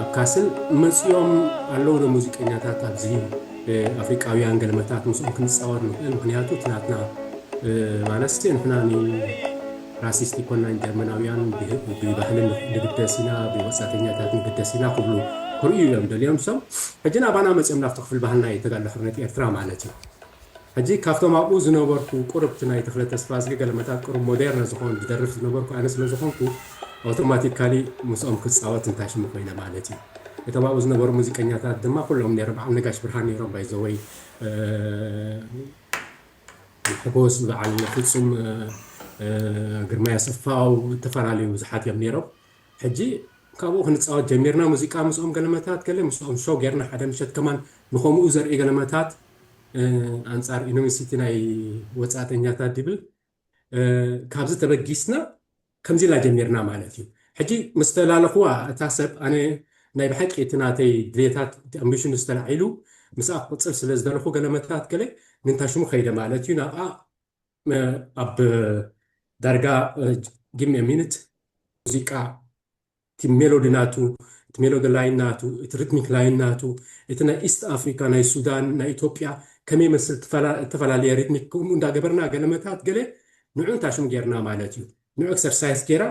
ኣብ ካስል መጺኦም ኣለዉ ዶ ሙዚቀኛታት ኣብዚ ኣፍሪቃውያን ገልመታት ምስኦም ክንጻወት ንክእል ምክንያቱ እቲ ናትና ማለስቴ ንሕና ን ራሲስት ኣይኮናን ጀርመናውያን ብባህሊ ንግደስ ኢና ብወጻተኛታት ንግደስ ኢና ክብሉ ክርእዩ እዮም ደልዮም ሶም ሕጂ ናባና መጺኦም ናብቲ ክፍል ባህልና እዩ ተጋድሎ ሕርነት ኤርትራ ማለት እዩ። ሕጂ ካብቶም ኣብኡ ዝነበርኩ ቁርብት ናይ ተኽለ ተስፋዝጊ ገለመታት ቁሩብ ሞዴርነ ዝኾን ዝደርፍ ዝነበርኩ ኣነ ስለ ዝኾንኩ ኣውቶማቲካሊ ምስኦም ክጻወት እንታይ ሽሙ ኮይነ ማለት እዩ። እቶም ኣብኡ ዝነበሩ ሙዚቀኛታት ድማ ኩሎም ኔሮም በዓል ነጋሽ ብርሃን ኔሮም ባይ ዘ ወይ ንሐጎስ ንበዓል ፍጹም ግርማይ ኣሰፋው እተፈላለዩ ብዙሓት እዮም ኔሮም። ሕጂ ካብኡ ክንጻወት ጀሚርና ሙዚቃ ምስኦም ገለመታት ገለ ምስኦም ሾው ጌርና ሓደ ምሸት ከማን ንከሙኡ ዘርኢ ገለመታት ኣንጻር ኢኖሚሲቲ ናይ ወጻእተኛታት ዲብል ካብዚ ተበጊስና ከምዚ ኢልና ጀሚርና ማለት እዩ ሕጂ ምስ ተላለኽዋ እታ ሰብ ኣነ ናይ ብሓቂ እቲ ናተይ ድሌታት እቲ ኣምቢሽኑ ዝተላዒሉ ምስኣ ክቕጽል ስለ ዝደለኹ ገለመታት ገለ ንንታ ሽሙ ከይደ ማለት እዩ ናብኣ ኣብ ዳርጋ ጊቭ ሚ አ ሚኒት ሙዚቃ እቲ ሜሎዲ ናቱ እቲ ሜሎዲ ላይን ናቱ እቲ ሪትሚክ ላይን ናቱ እቲ ናይ ኢስት ኣፍሪካ ናይ ሱዳን ናይ ኢትዮጵያ ከመይ ይመስል እተፈላለየ ሪትሚክ ከምኡ እንዳገበርና ገለ መታት ገለ ንዑ እንታይ ሽሙ ጌርና ማለት እዩ ንዑ ኤክሰርሳይስ ጌራ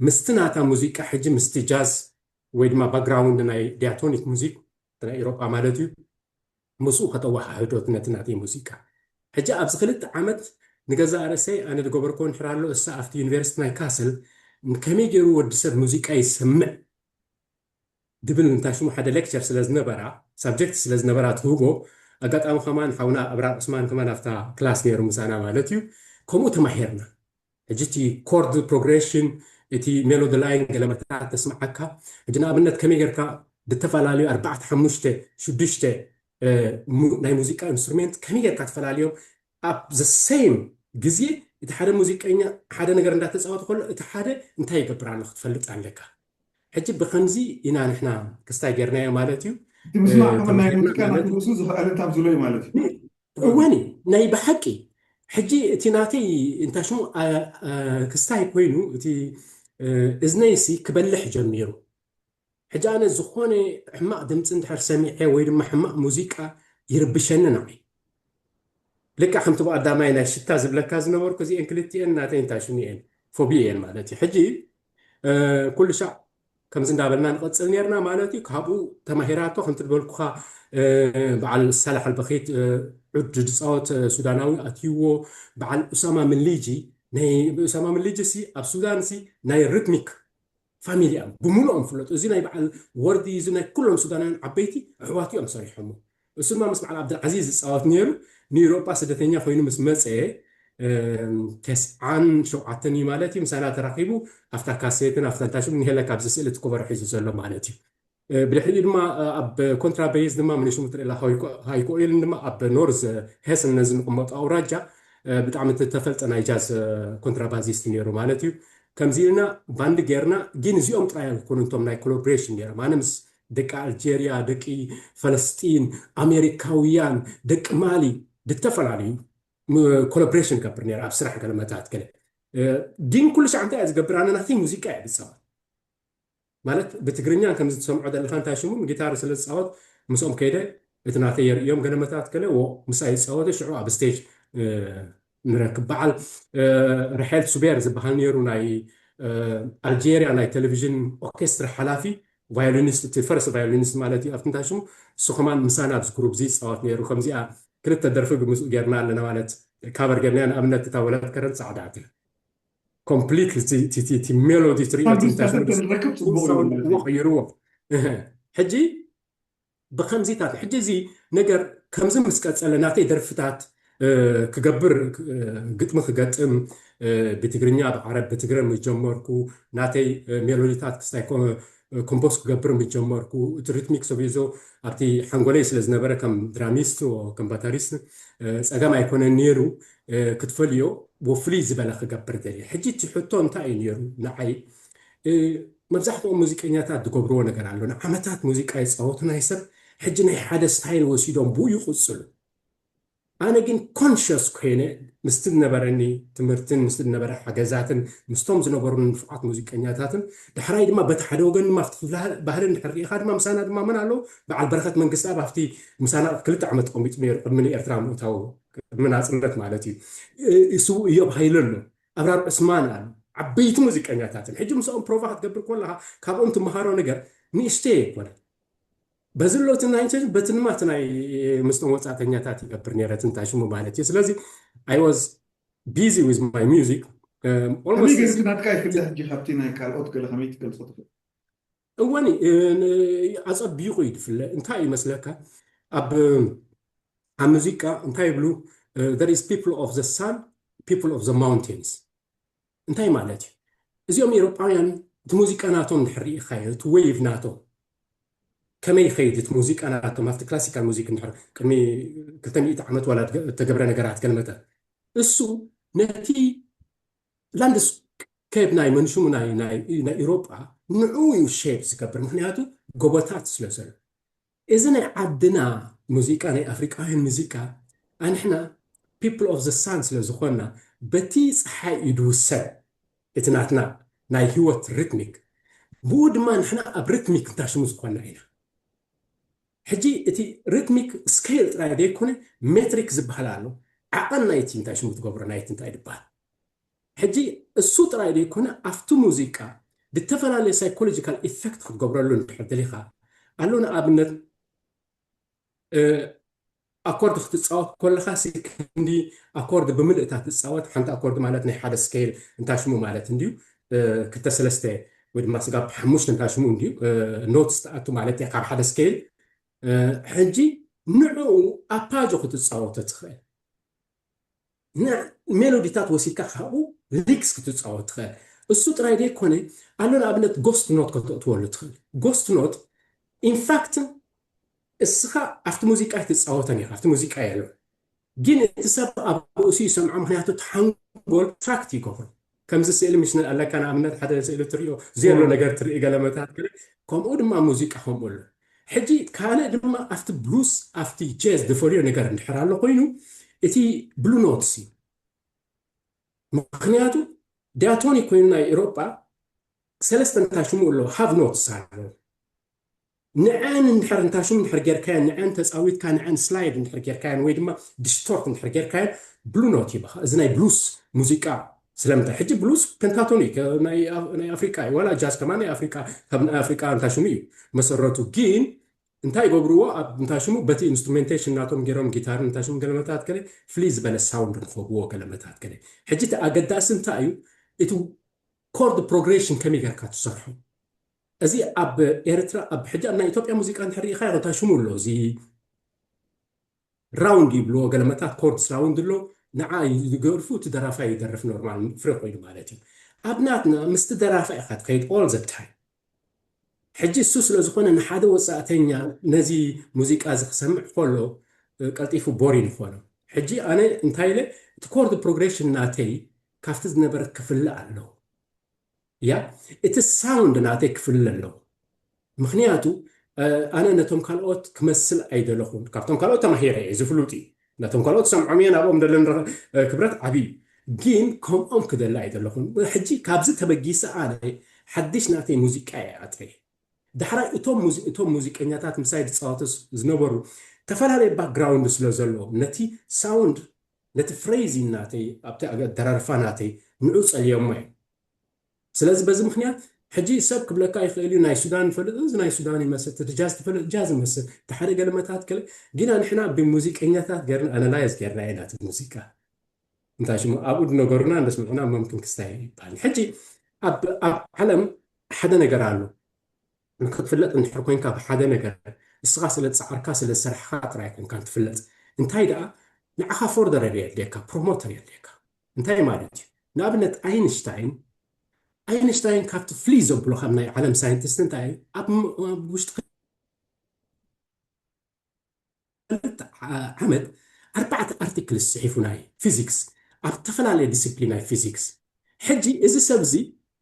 ምስቲ ናታ ሙዚቃ ሕጂ ምስቲ ጃዝ ወይ ድማ ባክግራውንድ ናይ ዲያቶኒክ ሙዚክ ናይ ኤሮጳ ማለት እዩ ምስኡ ከተወሓህዶት ነቲ ናተይ ሙዚቃ። ሕጂ ኣብዚ ክልተ ዓመት ንገዛእ ርእሰይ ኣነ ዝገበርክዎ እንድሕር ኣሎ እሳ ኣብቲ ዩኒቨርሲቲ ናይ ካስል ከመይ ጌሩ ወዲ ሰብ ሙዚቃ ይሰምዕ ዝብል እንታይ ሽሙ ሓደ ሌክቸር ስለ ዝነበራ ሳብጀክት ስለ ዝነበራ ትህቦ ኣጋጣሚ ከማን ሓውና ኣብራር ዑስማን ከማን ኣብታ ክላስ ኔሩ ምሳና ማለት እዩ ከምኡ ተማሂርና ሕጂ እቲ ኮርድ ፕሮግሬሽን እቲ ሜሎዲ ላይን ገለ መታን ተስምዓካ ሕጂ ንኣብነት ከመይ ጌርካ ብተፋላልዩ ኣርባዕተ ሓሙሽተ ሽዱሽተ ናይ ሙዚቃ ኢንስትሩሜንት ከመይ ጌርካ ትፈላልዮም ኣብ ዘ ሰይም ግዜ እቲ ሓደ ሙዚቀኛ ሓደ ነገር እንዳተጻወተ ከሎ እቲ ሓደ እንታይ ይገብር ኣሎ ክትፈልጥ ኣለካ ሕጂ ብከምዚ ኢና ንሕና ክስታይ ጌርናዮ ማለት እዩ እቲ ምስማዕ ከመ ናይ ሙዚቃ ናቱ ርእሱ ዝኸኣለ እንታብ ዝሎ እዩ ማለት እዩ እወኒ ናይ ብሓቂ ሕጂ እቲ ናተይ እንታይ ሽሙ ክስታይ ኮይኑ እቲ እዝነይሲ ክበልሕ ጀሚሩ ሕጂ ኣነ ዝኾነ ሕማቕ ድምፂ እንድሕር ሰሚዐ ወይ ድማ ሕማቕ ሙዚቃ ይርብሸኒ ንዓይ ልክዕ ከምቲ ብቀዳማይ ናይ ሽታ ዝብለካ ዝነበርኩ እዚኤን ክልቲኤን ናተይ እንታይ ሽሙ እየን ፎቢ እየን ማለት እዩ ሕጂ ኩሉ ሻዕ ከምዚ እንዳበልና ንቐጽል ኔርና ማለት እዩ ካብኡ ተማሂራቶ ከምቲ ድበልኩኻ በዓል ሳላሕ ኣልበኺት ዑድ ድጻወት ሱዳናዊ ኣትይዎ በዓል ኡሳማ ምሊጂ ናይ ኡሳማ ምሊጂ ሲ ኣብ ሱዳን ሲ ናይ ርትሚክ ፋሚሊ እዮም ብምሉኦም ፍለጡ እዚ ናይ በዓል ወርዲ እዚ ናይ ኩሎም ሱዳናውያን ዓበይቲ ኣሕዋቱ እዮም ሰሪሖሞ እሱ ድማ ምስ በዓል ኣብድልዓዚዝ ዝፃወት ነይሩ ንኢሮጳ ስደተኛ ኮይኑ ምስ መፀ ተስዓን ሸውዓተን እዩ ማለት እዩ ምሳና ተራኺቡ ኣብታ ካሴትን ኣብታ ታሽም ንሄለ ካብዚ ስእሊ እቲ ኮበሮ ሒዙ ዘሎ ማለት እዩ ብድሕሪኡ ድማ ኣብ ኮንትራ በይዝ ድማ ምንሽሙ ትርኢላ ሃይኮ ኢልን ድማ ኣብ ኖርዝ ሄስን ነዚ ንቕመጡ ኣውራጃ ብጣዕሚ ተፈልጠ ናይ ጃዝ ኮንትራባዚስት ነይሩ ማለት እዩ ከምዚ ኢልና ባንዲ ጌርና ግን እዚኦም ጥራይ ኣይኮኑ እቶም ናይ ኮሎብሬሽን ነይሮም ኣነ ምስ ደቂ ኣልጀርያ፣ ደቂ ፈለስጢን፣ ኣሜሪካውያን፣ ደቂ ማሊ ብተፈላለዩ ኮሎብሬሽን እገብር ነይረ ኣብ ስራሕ ገለ መታት ገለ ግን ኩሉ ሳዕ እንታይ እየ ዝገብር ኣነ ናተይ ሙዚቃ እየ ዝፃወት ማለት ብትግርኛ ከምዚ ትሰምዖ ዘለካ እንታይ ሽሙ ጊታር ስለ ዝፃወት ምስኦም ከይደ እቲ ናተይ የርእዮም ገለ መታት ገለ ምስኣ ይፃወተ ሽዑ ኣብ ስቴጅ ንረክብ። በዓል ርሐል ሱቤር ዝበሃል ነይሩ ናይ ኣልጀርያ ናይ ተለቪዥን ኦርኬስትራ ሓላፊ ቫዮሊኒስት እቲ ፈርስት ቫዮሊኒስት ማለት እዩ ኣብቲ እንታይ ሽሙ እሱ ከማን ምሳና ኣብዚ ግሩፕ እዚ ይጻወት ነይሩ ከምዚኣ ክልተ ደርፊ ብምስኡ ጌርና ኣለና ማለት ካቨር ጌርናያ ንኣብነት እታ ወላት ከረን ጻዕዳ እታ ኮምፕሊትሊ እቲ ሜሎዲ ትርእዮ እንታይ ሽሙ ቀይርዎ ሕጂ ብከምዚታት ሕጂ እዚ ነገር ከምዚ ምስ ቀጸለ ናተይ ደርፍታት ክገብር ግጥሚ ክገጥም ብትግርኛ ብዓረብ ብትግረ ምስ ጀመርኩ ናተይ ሜሎዲታት ክስታይ ኮምፖስ ክገብር ምስ ጀመርኩ እቲ ሪትሚክ ሰቢዞ ኣብቲ ሓንጎለይ ስለ ዝነበረ ከም ድራሚስት ከም ባታሪስት ጸገም ኣይኮነን ኔሩ ክትፈልዮ ወፍልይ ዝበለ ክገብር ደልየ ሕጂ እቲ ሕቶ እንታይ እዩ ኔሩ ንዓይ መብዛሕትኦም ሙዚቀኛታት ዝገብርዎ ነገር ኣሎ ንዓመታት ሙዚቃ ይጻወቱ ናይ ሰብ ሕጂ ናይ ሓደ ስታይል ወሲዶም ብኡ ይቅጽሉ ኣነ ግን ኮንሸስ ኮይነ ምስቲ ዝነበረኒ ትምህርትን ምስቲ ዝነበረ ሓገዛትን ምስቶም ዝነበሩኒ ንፉዓት ሙዚቀኛታትን ዳሕራይ ድማ በቲ ሓደ ወገን ድማ ኣብቲ ክፍሊ ባህሊ እንድሕር ርኢኻ ድማ ምሳና ድማ መን ኣለዉ በዓል በረኸት መንግስትኣብ ኣብቲ ምሳና ክልተ ዓመት ተቐሚጡ ነይሩ ቅድሚ ንኤርትራ ምእታዉ ቅድሚ ናጽነት ማለት እዩ ስዉእ እዮብ ሃይለ ኣሎ ኣብራር ዑስማን ኣሎ ዓበይቲ ሙዚቀኛታት እዮም ሕጂ ምስኦም ፕሮቫ ክትገብር ኮለኻ ካብኦም ትመሃሮ ነገር ንእሽተይ ኣይኮነን በዚ ሎት ናይ ቸን በቲ ንማት ናይ ምስቶም ወጻእተኛታት ይገብር ነረ ትንታ ሽሙ ማለት እዩ ስለዚ ኣይ ዋዝ ቢዚ ዊዝ ማይ ሚዚክ ከመይ ጌርካ ናትካ ይፍለ ሕጂ ካብቲ ናይ ካልኦት ገለ ከመይ ትገልጾ ትኽእል እወኒ ኣጸቢቑ እዩ ዝፍለ እንታይ እዩ መስለካ ኣብ ኣብ ሙዚቃ እንታይ ይብሉ there is people of the sun people of the mountains እንታይ ማለት እዩ እዚኦም ኤሮጳውያን እቲ ሙዚቃ ናቶም ድሕር ርኢኻዮ እቲ ወይቭ ናቶም ከመይ ይኸይድ እቲ ሙዚቃ ናቶም ኣብቲ ክላሲካል ሙዚክ ድሕር ቅድሚ ክልተ ሚእቲ ዓመት ዋላ እተገብረ ነገራት ከንመጠ እሱ ነቲ ላንድስ ከይድ ናይ መንሽሙ ናይ ናይ ኢሮጳ ንዑ እዩ ሼፕ ዝገብር ምክንያቱ ጎቦታት ስለ ዘሎ እዚ ናይ ዓድና ሙዚቃ ናይ ኣፍሪቃውያን ሙዚቃ ኣንሕና ፒፕል ኦፍ ዘ ሳን ስለ ዝኾንና በቲ ፀሓይ እዩ ድውሰን እቲ ናትና ናይ ህይወት ሪትሚክ ብኡ ድማ ንሕና ኣብ ሪትሚክ እንታሽሙ ዝኾንና ኢና ሕጂ እቲ ሪትሚክ ስከይል ጥራይ ዘይኮነ ሜትሪክ ዝብሃል ኣሎ ዓቐን ናይቲ እንታይ ሽሙ ትገብሮ ናይቲ እንታይ ድብሃል ሕጂ እሱ ጥራይ ዘይኮነ ኣብቲ ሙዚቃ ድተፈላለየ ሳይኮሎጂካል ኢፈክት ክትገብረሉ እንድሕር ደሊኻ ኣሎ ንኣብነት ኣኮርድ ክትጻወት ኮለኻሲ ክንዲ ኣኮርድ ብምልእ እታ ትጻወት ሓንቲ ኣኮርድ ማለት ናይ ሓደ ስከይል እንታሽሙ ማለት እንድዩ ክልተ ሰለስተ ወይ ድማ ስጋብ ሓሙሽተ እንታሽሙ እንድዩ ኖትስ ትኣቱ ማለት እያ ካብ ሓደ ስከይል ሕጂ ንዕኡ ኣፓጆ ክትጻወቶ ትኽእል። ንሜሎዲታት ወሲድካ ካብኡ ሊክስ ክትጻወት ትኽእል። እሱ ጥራይ ዘይኮነ ኣሎ ንኣብነት ጎስት ኖት ከተእትወሉ ትኽእል። ጎስት ኖት ኢንፋክትን እስኻ ኣብቲ ሙዚቃ ኣይትጻወተን ኢኻ ኣብቲ ሙዚቃ የሎን ግን እቲ ሰብ ኣብ ርእሱ ይሰምዖ ምኽንያቱ እቲ ሓንጎል ትራክት ይገብሮ። ከምዚ ስእሊ ምስ ኣለካ ንኣብነት ሓደ ስእሊ ትሪኦ ዜሎ ነገር ትርኢ ገለመታት ገለ ከምኡ ድማ ሙዚቃ ከምኡ ኣሎ ሕጂ ካልእ ድማ ኣብቲ ብሉስ ኣብቲ ጀዝ ዝፈልዮ ነገር እንድሕር ኣሎ ኮይኑ እቲ ብሉ ኖትስ እዩ ምክንያቱ ዲያቶኒ ኮይኑ ናይ ኤሮጳ ሰለስተ እንታይ ሽሙ ኣሎ ሃቭ ኖትስ ኣሎ ንዐኣን እንድሕር እንታ ሽም እንድሕር ጌርካየን፣ ንዐኣን ተጻዊትካ፣ ንዐኣን ስላይድ እንድሕር ጌርካየን ወይ ድማ ዲስቶርት እንድሕር ጌርካየን ብሉ ኖት ይህባኻ። እዚ ናይ ብሉስ ሙዚቃ ስለምንታይ ሕጂ ብሉስ ፔንታቶን እዩ ናይ ኣፍሪቃ እዩ ዋላ ጃዝ ከማን ናይ ኣፍሪቃ ካብ ናይ ኣፍሪቃ እንታ ሽሙ እዩ መሰረቱ ግን እንታይ ይገብርዎ ኣብ እንታ ሽሙ በቲ ኢንስትሩሜንቴሽን ናቶም ጌሮም ጊታርን እንታ ሽሙ ገለ መታት ገለ ፍልይ ዝበለ ሳውንድ ንክህብዎ ገለ መታት ገለ ሕጂ እቲ ኣገዳሲ እንታይ እዩ እቲ ኮርድ ፕሮግሬሽን ከመይ ጌርካ ትሰርሖ እዚ ኣብ ኤርትራ ኣብ ሕጂ ኣብ ናይ ኢትዮጵያ ሙዚቃ እንድሕር ርኢኻዮ እንታይ ሽሙ ኣሎ እዚ ራውንድ ይብልዎ ገለመታት ኮርድስ ራውንድ ኣሎ ንዓ ይገርፉ እቲ ደራፋይ ይደርፍ ኖርማል ፍሪ ኮይኑ ማለት እዩ ኣብ ናትና ምስቲ ደራፋይ ኢኻ ትኸይድ ኦል ዘ ታይም ሕጂ እሱ ስለ ዝኾነ ንሓደ ወጻእተኛ ነዚ ሙዚቃ እዚ ክሰምዕ ከሎ ቀልጢፉ ቦሪን ይኾኖ ሕጂ ኣነ እንታይ ኢለ እቲ ኮርድ ፕሮግሬሽን ናተይ ካብቲ ዝነበረ ክፍለ ኣለዎ እያ እቲ ሳውንድ ናተይ ክፍለ ኣለኩ ምክንያቱ ኣነ ነቶም ካልኦት ክመስል ኣይደለኩን ካብቶም ካልኦት ተማሂረ እየ እዚ ፍሉጥ እዩ ነቶም ካልኦት ሰምዖም እየ ናብኦም ደለኒ ክብረት ዓብይ እዩ ግን ከምኦም ክደሊ ኣይደለኩን ሕጂ ካብዚ ተበጊሰ ኣነ ሓድሽ ናተይ ሙዚቃ እየ ኣጥርየ ዳሕራይ እቶም እቶም ሙዚቀኛታት ምሳይ ዝጻወቱ ዝነበሩ ተፈላለየ ባክግራውንድ ስለ ዘሎ ነቲ ሳውንድ ነቲ ፍሬዚን ናተይ ኣብቲ ኣደራርፋ ናተይ ንዑ ጸልዮሞ እዮም ስለዚ በዚ ምክንያት ሕጂ ሰብ ክብለካ ይክእል እዩ ናይ ሱዳን ይፈልጥ እዚ ናይ ሱዳን ይመስል እቲ ጃዝ ትፈልጥ ጃዝ ይመስል እቲ ሓደ ገለመታት ገለ ጊና ንሕና ብሙዚቀኛታት ገርና ኣናላይዝ ገርና ኢና እቲ ሙዚቃ እንታይ ሽሙ ኣብኡ ድነገሩና እንደስምዕና መምክን ክስታይ ይባል ሕጂ ኣብ ዓለም ሓደ ነገር ኣሎ ንክትፍለጥ እንድሕር ኮንካ ብሓደ ነገር እስኻ ስለ ዝጸዓርካ ስለ ዝሰርሕኻ ጥራይ ኣይኮንካን ትፍለጥ እንታይ ደኣ ንዓኻ ፎርደረር የድልየካ ፕሮሞተር የድልየካ እንታይ ማለት እዩ ንኣብነት ኣይንሽታይን ኣይንሽታይን ካብቲ ፍልይ ዘብሎ ከም ናይ ዓለም ሳይንቲስት እንታይ እዩ ኣብ ውሽጢ ሓንቲ ዓመት ኣርባዕተ ኣርቲክልስ ጽሒፉ ናይ ፊዚክስ ኣብ እተፈላለየ ዲሲፕሊን ናይ ፊዚክስ። ሕጂ እዚ ሰብ እዚ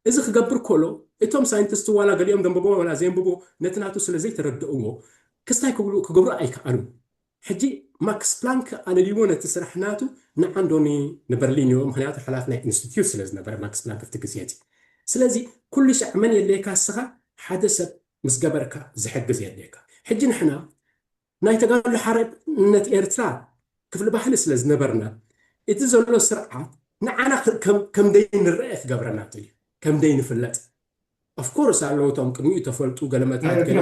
እዚ ክገብር ኮሎ እቶም ሳይንትስት ዋላ ገሊኦም ደንበቦ ዋላ ዘየንብቡ ነቲ ናቱ ስለ ዘይተረድእዎ ክስታይ ክብሉ ክገብሩ ኣይከኣሉን ሕጂ ማክስ ፕላንክ ኣለልይዎ ነቲ ስራሕ ናቱ ንዓንዶ ን ንበርሊን እዩ ምክንያቱ ሓላፊ ናይ ኢንስቲትዩት ስለ ዝነበረ ማክስ ፕላንክ ኣብቲ ግዜ እቲ ስለዚ ኩሉሻዕ መን የድልየካ እስኻ ሓደ ሰብ ምስ ገበርካ ዝሕግዝ የድልየካ ሕጂ ንሕና ናይ ተጋድሎ ሓርነት ኤርትራ ክፍሊ ባህሊ ስለ ዝነበርና እቲ ዘሎ ስርዓት ንዓና ከምደይ ንረኤ ክገብረና ደልዩ ከምደይ ንፍለጥ of course ኣለዉ እቶም ቅድሚኡ ተፈልጡ ገለመታት ገለ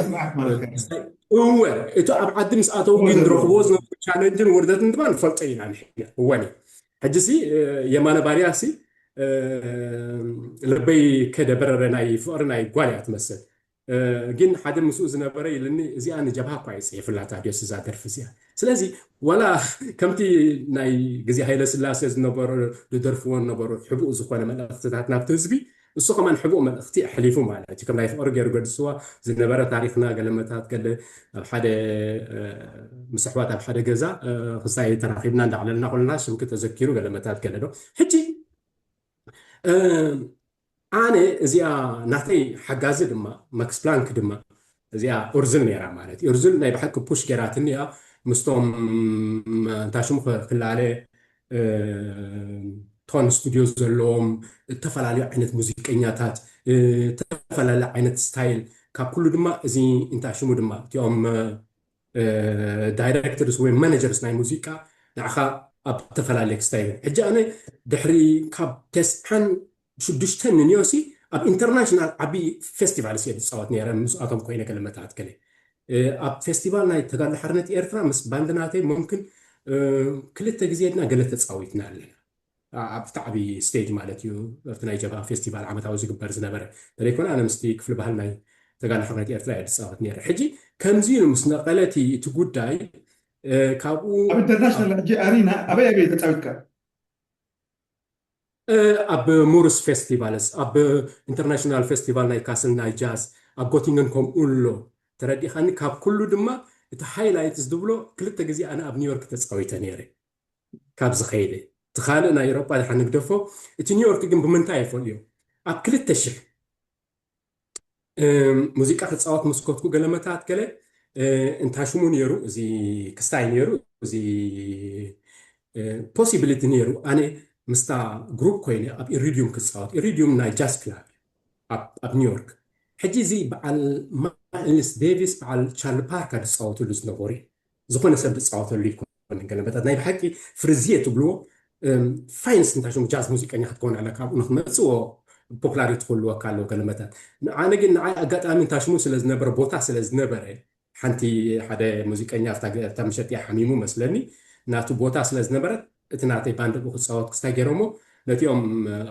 እወ እቲ ኣብ ዓዲ ምስ ኣተው ግን ዝረኽብዎ ዝነበሩ ቻለንጅን ውርደትን ድማ ንፈልጦ ኢና ንሕና እወን እዩ ሕጂ ሲ የማነ ባርያ ሲ ልበይ ከደ በረረ ናይ ፍቅሪ ናይ ጓል እያ ትመስል ግን ሓደ ምስኡ ዝነበረ ኢልኒ እዚኣ ንጀብሃ እኳ እዩ ጽሒፍላ ታድዮስ እዛ ደርፊ እዚኣ ስለዚ ዋላ ከምቲ ናይ ግዜ ሃይለ ስላሴ ዝነበሩ ዝደርፍዎ ነበሩ ሕቡእ ዝኾነ መልእኽትታት ናብቲ ህዝቢ እሱ ከማን ሕቡእ መልእኽቲ ኣሕሊፉ ማለት እዩ ከም ናይ ፍቕሪ ገይሩ ገድስዋ ዝነበረ ታሪኽና ገለመታት ገለ ኣብ ሓደ ምስ ኣሕዋት ኣብ ሓደ ገዛ ክሳይ ተራኺብና እንዳዕለልና ኮለና ስምኪ ተዘኪሩ ገለመታት ገለ ዶ ሕጂ ኣነ እዚኣ ናተይ ሓጋዚ ድማ ማክስ ፕላንክ ድማ እዚኣ ኡርዙን ነይራ ማለት እዩ ኡርዙን ናይ ብሓቂ ፑሽ ገይራትኒ እያ ምስቶም እንታይ ሽሙ ክላለ ቶን ስቱድዮ ዘለዎም እተፈላለዩ ዓይነት ሙዚቀኛታት እተፈላለዩ ዓይነት ስታይል ካብ ኩሉ ድማ እዚ እንታይ ሽሙ ድማ እቲኦም ዳይረክተርስ ወይ ማነጀርስ ናይ ሙዚቃ ንዓኻ ኣብ ተፈላለየ ክስታይ ሕጂ ኣነ ድሕሪ ካብ ተስዓን ብሽዱሽተ ንንዮሲ ኣብ ኢንተርናሽናል ዓቢ ፌስቲቫልስ እየ ዝጻወት ነይረ ምስኣቶም ኮይነ ገለ መታሕት ገለ ኣብ ፌስቲቫል ናይ ተጋድሎ ሓርነት ኤርትራ ምስ ባንድ ናተይ ሙምክን ክልተ ግዜ ድና ገለ ተጻዊትና ኣለና ኣብ ታዕቢ ስቴጅ ማለት እዩ ኣብቲ ናይ ጀብሃ ፌስቲቫል ዓመታዊ ዝግበር ዝነበረ ተለይኮነ ኣነ ምስቲ ክፍሊ ባህል ናይ ተጋድሎ ሓርነት ኤርትራ እየ ዝጻወት ነይረ ሕጂ ከምዚ ኢሉ ምስ ነቐለቲ እቲ ጉዳይ ካብኡ ኣብ ኢንተርናሽናል ሕጂ ኣሪና ኣበይ ኣበይ ተጻዊትካ ኣብ ሙርስ ፌስቲቫልስ፣ ኣብ ኢንተርናሽናል ፌስቲቫል ናይ ካስል ናይ ጃዝ ኣብ ጎቲንገን ከምኡ ኣሎ። ተረዲእካኒ? ካብ ኩሉ ድማ እቲ ሃይላይት ዝብሎ ክልተ ግዜ ኣነ ኣብ ኒውዮርክ ተጻዊተ ነይረ። ካብዚ ከይደ እቲ ካልእ ናይ ኤውሮጳ ደሓን ንግደፎ፣ እቲ ኒውዮርክ ግን ብምንታይ እፈልዮ ኣብ ክልተ ሽሕ ሙዚቃ ክጻወት ምስ ኮትኩ ገለ መታት ገለ እንታይ ሽሙ ነይሩ እዚ ክስታይ ነይሩ እዚ ፖሲቢሊቲ ነይሩ ኣነ ምስታ ግሩፕ ኮይነ ኣብ ኢሪድዩም ክጻወት ኢሪድዩም ናይ ጃዝ ክላብ ኣብ ኒውዮርክ ሕጂ እዚ በዓል ማይልስ ዴቪስ በዓል ቻርሊ ፓርካ ዝፃወትሉ ዝነበሩ ዝኾነ ሰብ ዝጻወተሉ ኣይኮነን ገለመታት ናይ ብሓቂ ፍርዝየ ትብልዎ ፋይንስ እንታይ ሽሙ ጃዝ ሙዚቀኛ ክትከውን ኣለካ ኣብኡ ንክመጽዎ ፖፕላሪቲ ክህልወካ ኣለዎ ገለመታት ኣነ ግን ንዓይ ኣጋጣሚ እንታይ ሽሙ ስለ ዝነበረ ቦታ ስለ ዝነበረ ሓንቲ ሓደ ሙዚቀኛ ኣብታ ምሸት እያ ሓሚሙ መስለኒ ናቱ ቦታ ስለ ዝነበረት እቲ ናተይ ባንድ ብኡ ክፃወት ክስታይ ገይሮሞ ነቲኦም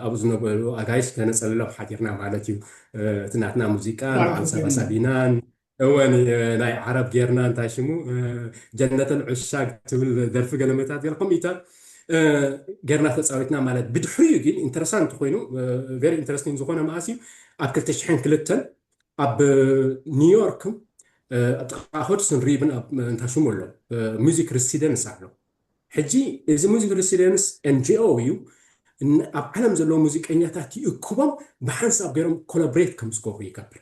ኣብኡ ዝነበሩ ኣጋይሽ ከነፀልሎም ሓዲርና ማለት እዩ እቲ ናትና ሙዚቃ ንዓል ሰባሳቢናን እወ ናይ ዓረብ ጌርና እንታይ ሽሙ ጀነተል ዑሻግ ትብል ደርፊ ገለመታት ገለ ከምኢታት ጌርና ተፃዊትና ማለት ብድሕሪኡ ግን ኢንተረሳንት ኮይኑ ቨሪ ኢንተረስቲንግ ዝኾነ መኣስ እዩ ኣብ ክልተ ሽሕን ክልተን ኣብ ኒውዮርክ ጥቃ ሆድስን ሪብን እንታይ ሽሙ ኣሎ ሙዚክ ሪሲደንስ ኣሎ ሕጂ እዚ ሙዚክ ሪሲደንስ ኤንጂኦ እዩ ኣብ ዓለም ዘለዎ ሙዚቀኛታት ይእክቦም ብሓንሳብ ገይሮም ኮላብሬት ከም ዝገብሩ ይገብር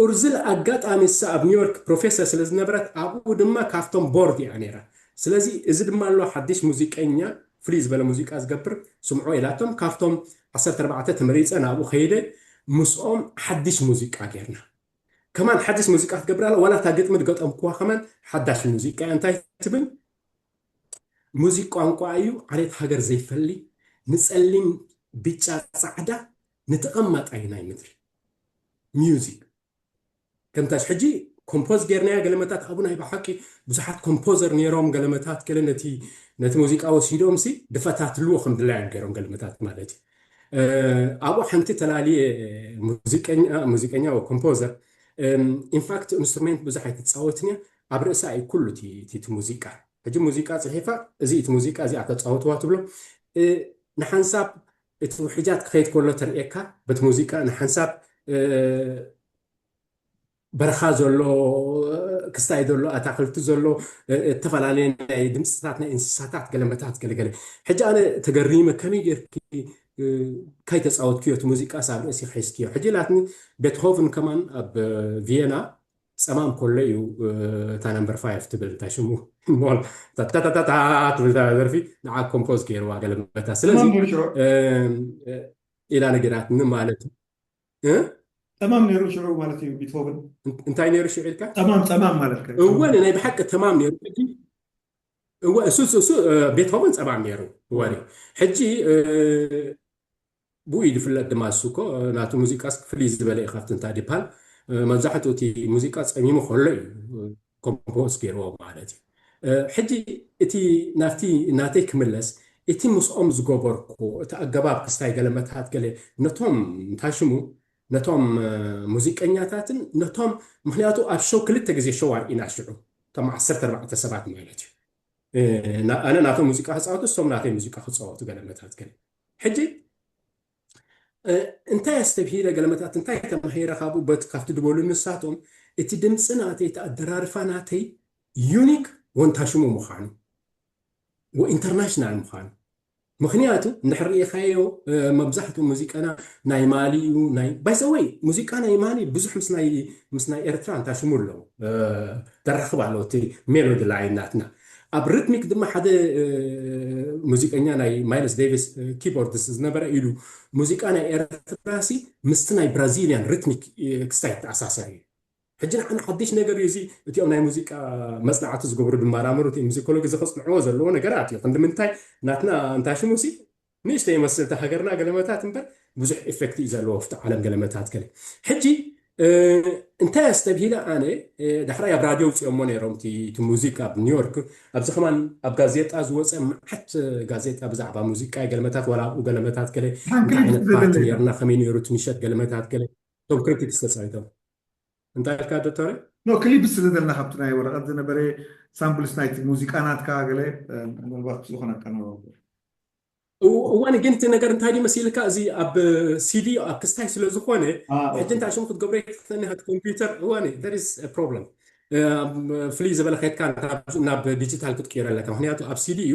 ኡርዝል ኣጋጣሚ ንሳ ኣብ ኒውዮርክ ፕሮፌሰር ስለ ዝነበረት ኣብኡ ድማ ካብቶም ቦርድ ኢያ ነይራ ስለዚ እዚ ድማ ኣሎ ሓድሽ ሙዚቀኛ ፍልይ ዝበለ ሙዚቃ ዝገብር ስምዑ ኢላቶም ካብቶም ዓሰርተ ኣርባዕተ ተመሪጸ ናብኡ ከይደ ምስኦም ሓድሽ ሙዚቃ ጌርና ከማን ሓድሽ ሙዚቃ ክትገብር ኣላ ዋላ እታ ግጥሚ ዝገጠምኩዋ ከማን ሓዳሽ ሙዚቃ ኢያ እንታይ ትብል ሙዚቅ ቋንቋ እዩ ዓሌት ሃገር ዘይፈሊ ንጸሊም ቢጫ ጻዕዳ ንተቐማጣይ ናይ ምድሪ ሙዚክ ከምታሽ ሕጂ ኮምፖዝ ጌርናያ ገለመታት ኣብኡ ናይ ብሓቂ ብዙሓት ኮምፖዘር ነይሮም ገለመታት ገለ ነቲ ነቲ ሙዚቃ ወሲዶም ሲ ድፈታትልዎ ከም ድላዮም ገይሮም ገለመታት ማለት እዩ ኣብኡ ሓንቲ ተላልየ ሙዚቀኛ ሙዚቀኛ ወይ ኮምፖዘር ኢንፋክት ኢንስትሩሜንት ብዙሕ ኣይትፃወትን እያ ኣብ ርእሳ እዩ ኩሉ እቲ ሙዚቃ ሕጂ ሙዚቃ ፅሒፋ እዚ እቲ ሙዚቃ እዚኣ ተፃወትዋ ትብሎ ንሓንሳብ እቲ ውሕጃት ክኸይድ ከሎ ተርእየካ በቲ ሙዚቃ ንሓንሳብ በረኻ ዘሎ ክስታይ ዘሎ ኣታኽልቲ ዘሎ እተፈላለየ ናይ ድምፅታት ናይ እንስሳታት ገለመታት ገለገለ ሕጂ ኣነ ተገሪመ ከመይ ጌርኪ ካይተፃወትክዮ እቲ ሙዚቃ ሳብ ርእሲኺ ሒዝክዮ ሕጂ ኢላትኒ ቤትሆቭን ከማን ኣብ ቪየና ጸማም ኮሎ እዩ እታ ነምበር ፋይፍ ትብል እንታይ ሽሙ ሞል ታታታታታ ትብል ደርፊ ንዓ ኮምፖዝ ገይርዋ ገለ መታ ስለዚ ኢላ ነገራትኒ ማለት ጠማም ነይሩ ሽዑ ማለት እዩ ቢትሆቨን እንታይ ነይሩ ሽዑ ኢልካ ጠማም ጠማም ማለት እወ ናይ ብሓቂ ተማም ነይሩ እወ እሱ እሱ ቤትሆቨን ፀማም ነይሩ ወሪ ሕጂ ብኡ እዩ ዝፍለጥ ድማ ንሱ እኮ ናቱ ሙዚቃስ ፍልይ ዝበለ እዩ ካብቲ እንታ ዲፓል መብዛሕትኡ እቲ ሙዚቃ ጸሚሙ ከሎ እዩ ኮምፖዝ ገይርዎ ማለት እዩ ሕጂ እቲ ናብቲ ናተይ ክምለስ እቲ ምስኦም ዝገበርኩ እቲ ኣገባብ ክስታይ ገለ መትሃት ገለ ነቶም እንታይ ሽሙ ነቶም ሙዚቀኛታትን ነቶም ምክንያቱ ኣብ ሸው ክልተ ግዜ ሸው ኣርኢና ሽዑ ከም ዓሰርተ ኣርባዕተ ሰባት ማለት እዩ ኣነ ናቶም ሙዚቃ ክጻወቱ እሶም ናተይ ሙዚቃ ክጻወቱ ገለ መትሃት ገለ ሕጂ እንታይ ኣስተብሂለ ገለመታት እንታይ ተማሂረ ካብኡ በት ካብቲ ድበሉ ንሳቶም እቲ ድምፂ ናተይ እቲ ኣደራርፋ ናተይ ዩኒክ ወንታሽሙ ምዃኑ ወኢንተርናሽናል ምዃኑ ምክንያቱ እንድሕር ርኢኻዮ መብዛሕትኡ ሙዚቃና ናይ ማሊ እዩ ናይ ባይዘወይ ሙዚቃ ናይ ማሊ ብዙሕ ምስ ናይ ኤርትራ እንታሽሙ ኣለዉ ደራኽብ ኣለዎ እቲ ሜሎዲ ላይን ናትና ኣብ ርትሚክ ድማ ሓደ ሙዚቀኛ ናይ ማይልስ ደይቪስ ኪቦርድስ ዝነበረ ኢሉ ሙዚቃ ናይ ኤርትራሲ ምስቲ ናይ ብራዚልያን ርትሚክ ክስታይ ይተኣሳሰር እዩ። ሕጂ ንዓና ሓድሽ ነገር እዩ እዚ እቲኦም ናይ ሙዚቃ መጽናዕቲ ዝገብሩ ድማራምሩ ሙዚኮሎጊ እዚ ከጽንዕዎ ዘለዎ ነገራት እዩ ክንዲ ምንታይ ናትና እንታይ ሽሙሲ ንእሽተይ ይመስል እቲ ሃገርና ገለመታት እምበር ብዙሕ ኤፈክት እዩ ዘለዎ ኣፍቲ ዓለም ገለመታት ገለ ሕጂ እንታይ ኣስተብሂለ ኣነ ዳሕራይ ኣብ ራድዮ ውፅኦሞ ነይሮም እቲ ሙዚቃ ኣብ ኒውዮርክ ኣብዚ ከማን ኣብ ጋዜጣ ዝወፀ መዓት ጋዜጣ ብዛዕባ ሙዚቃ ገለመታት ዋላ ኣብኡ ገለመታት ገለ እንታይ ዓይነት ፓርቲ ነርና ከመይ ነይሩ እቲ ምሸት ገለመታት ገለ እቶም ክሪቲክስ ተፃዊቶም እንታይ ኢልካ ዶቶረይ? ን ክሊፕ ስለ ዘለና ካብቲ ናይ ወረቀት ዝነበረ ሳምፕልስ ናይቲ ሙዚቃ ናትካ ገለ ምናልባት ዝኮነ ኣቀናባብራ። እዋኒ ግን እቲ ነገር እንታይ ድዩ መሲልካ እዚ ኣብ ሲዲ ኣብ ክስታይ ስለ ዝኾነ ሕጂ እንታይ ሽሙ ክትገብሮ ይትክእልኒ ሃት ኮምፒውተር እዋኒ there is a problem ፍልይ ዝበለ ከድካ ናብ ዲጂታል ክትቅይሮ ኣለካ ምክንያቱ ኣብ ሲዲ እዩ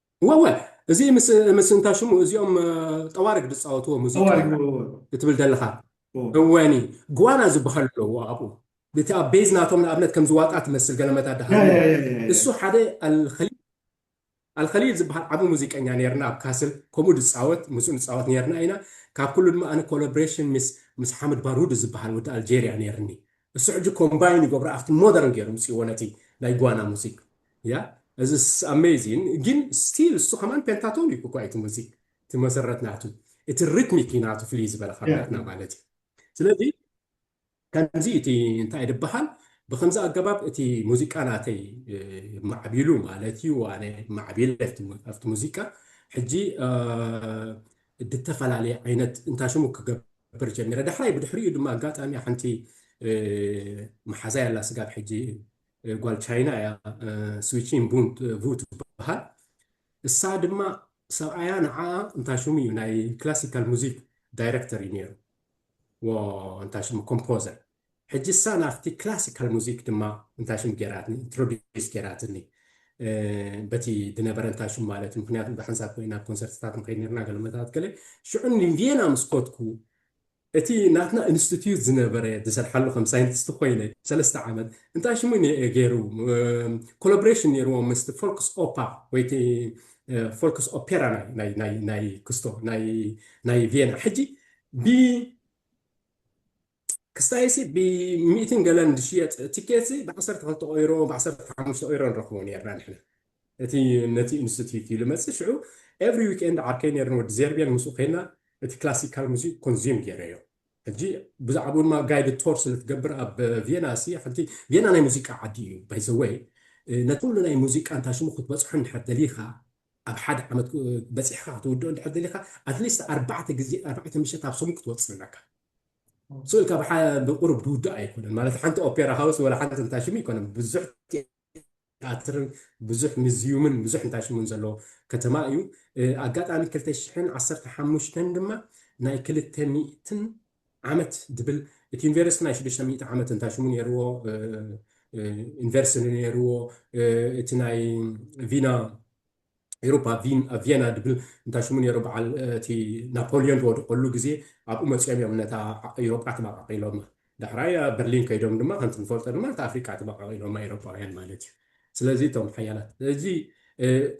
እወ እዚ ምስ ምስ እንታይ ሽሙ እዚኦም ጠዋርግ ዝፃወትዎ ሙዚቃ ጠዋርግ እወ እወ እትብል ዘለኻ እወ እወኒ ግዋና ዝበሃል ኣለዎ ኣብኡ እቲ ኣብ ቤዝ ናቶም ንኣብነት ከምዚ ዋጣ ትመስል ገለ መዳድ ያ ያ ሃልይዎ ያ ያ ያ እሱ ሓደ ኣልኸሊል ኣልኸሊል ዝበሃል ዓቢ ሙዚቀኛ ነይርና ኣብ ካስል ከምኡ ዝፃወት ምስኡ ንፃወት ነይርና ኢና ካብ ኩሉ ድማ ኣነ ኮላብሬሽን ምስ ምስ ሓምድ ባሩድ ዝበሃል ወዲ ኣልጀርያ ነይርኒ እሱ ሕጂ ኮምባይን ይገብሮ ኣብቲ ሞደርን ጌሩ ኣምጺእዎ ነቲ ናይ ጓና ሙዚክ ያ እዚ ኣሜዚን ጊን ስቲል እሱ ከማን ፔንታቶኒክ እኳ እዩ እቲ ሙዚክ እቲ መሰረት ናቱ እቲ ሪትሚክ እዩ ናቱ ፍልይ ዝበለ ካብ ናትና ማለት እዩ ስለዚ ከምዚ እቲ እንታይ ድበሃል ብከምዚ ኣገባብ እቲ ሙዚቃ ናተይ ማዕቢሉ ማለት እዩ ኣነ ማዕቢለ ኣብቲ ሙዚቃ ሕጂ ድተፈላለየ ዓይነት እንታይ ሽሙ ክገብር ነበር ጀሚረ ዳሕራይ ብድሕሪኡ ድማ ኣጋጣሚ ሓንቲ መሓዛይ ኣላ ስጋብ ሕጂ ጓል ቻይና እያ ስዊቺን ቡ ትበሃል እሳ ድማ ሰብኣያ ንዓኣ እንታይ ሽሙ እዩ ናይ ክላሲካል ሙዚክ ዳይረክተር እዩ ነይሩ እንታይ ሽሙ ኮምፖዘር ሕጂ እሳ ናብቲ ክላሲካል ሙዚክ ድማ እንታይ ሽም ጌራትኒ ኢንትሮዲስ ጌራትኒ በቲ ድነበረ እንታይ ሽም ማለት እዩ ምክንያቱ ብሓንሳብ ኮይና ኣብ ኮንሰርትታት ንከይድ ነርና ገለመታት ገለ ሽዑ ንቪየና ምስ ኮትኩ እቲ ናትና ኢንስቲትዩት ዝነበረ ዝሰርሓሉ ከም ሳይንቲስት ኮይነ ሰለስተ ዓመት እንታይ ሽሙ ገይሩ ኮላቦሬሽን ነይርዎ ምስ ፎልክስ ኦፓ ወይ ፎልክስ ኦፔራ ናይ ክስቶ ናይ ቪየና ሕጂ ክስታይሲ ብ ሚእትን ገለን ዝሽየጥ ቲኬትሲ ብ ዓሰርተ ክልተ ኦይሮ ብ ዓሰርተ ሓሙሽተ ኦይሮ ንረክቦ ኔርና ንሕና እቲ ነቲ ኢንስቲትዩት እዩ ልመጽእ ሽዑ ኤቭሪ ዊክኤንድ ዓርከይ ኔሩ ንወዲ ዜርቤል ምስኡ ከይና እቲ ክላሲካል ሙዚክ ኮንዝዩም ጌረዮ ሕጂ ብዛዕባኡ ድማ ጋይድ ቶር ስለ ትገብር ኣብ ቪየና ሲ ሓንቲ ቪየና ናይ ሙዚቃ ዓዲ እዩ ባይ ዘ ወይ ነቲ ኩሉ ናይ ሙዚቃ እንታይ ሽሙ ክትበጽሖ እንድሕር ደሊኻ ኣብ ሓደ ዓመት በጺሕካ ክትውድኦ እንድሕር ደሊኻ ኣትሊስት ኣርባዕተ ግዜ ኣርባዕተ ምሸት ኣብ ሰሙን ክትወጽእ ኣለካ ስእልካ ብሓ ብቁሩብ ድውዳእ ኣይኮነን ማለት ሓንቲ ኦፔራ ሃውስ ወላ ሓንቲ እንታይ ሽሙ ኣይኮነን ብዙሕ ቲያትርን ብዙሕ ምዝዩምን ብዙሕ እንታይ ሽሙን ዘለዎ ከተማ እዩ ኣጋጣሚ ክልተ ሽሕን ዓሰርተ ሓሙሽተን ድማ ናይ ክልተ ሚእትን ዓመት ድብል እቲ ዩኒቨርሲቲ ናይ ሽዱሽተ ሚእቲ ዓመት እንታይ ሽሙ ነይርዎ ዩኒቨርሲቲ ነይርዎ እቲ ናይ ቪና ኤሮፓ ቪን ኣብ ቪየና ድብል እንታይ ሽሙ ነይሩ በዓል እቲ ናፖልዮን ዝወደቀሉ ግዜ ኣብኡ መጺኦም እዮም ነታ ኤሮጳ ተመቃቂሎማ ዳሕራይ ኣብ በርሊን ከይዶም ድማ ከምቲ ንፈልጦ ድማ ነታ ኣፍሪቃ ተመቃቂሎማ ኤሮጳውያን ማለት እዩ ስለዚ እቶም ሓያላት እዚ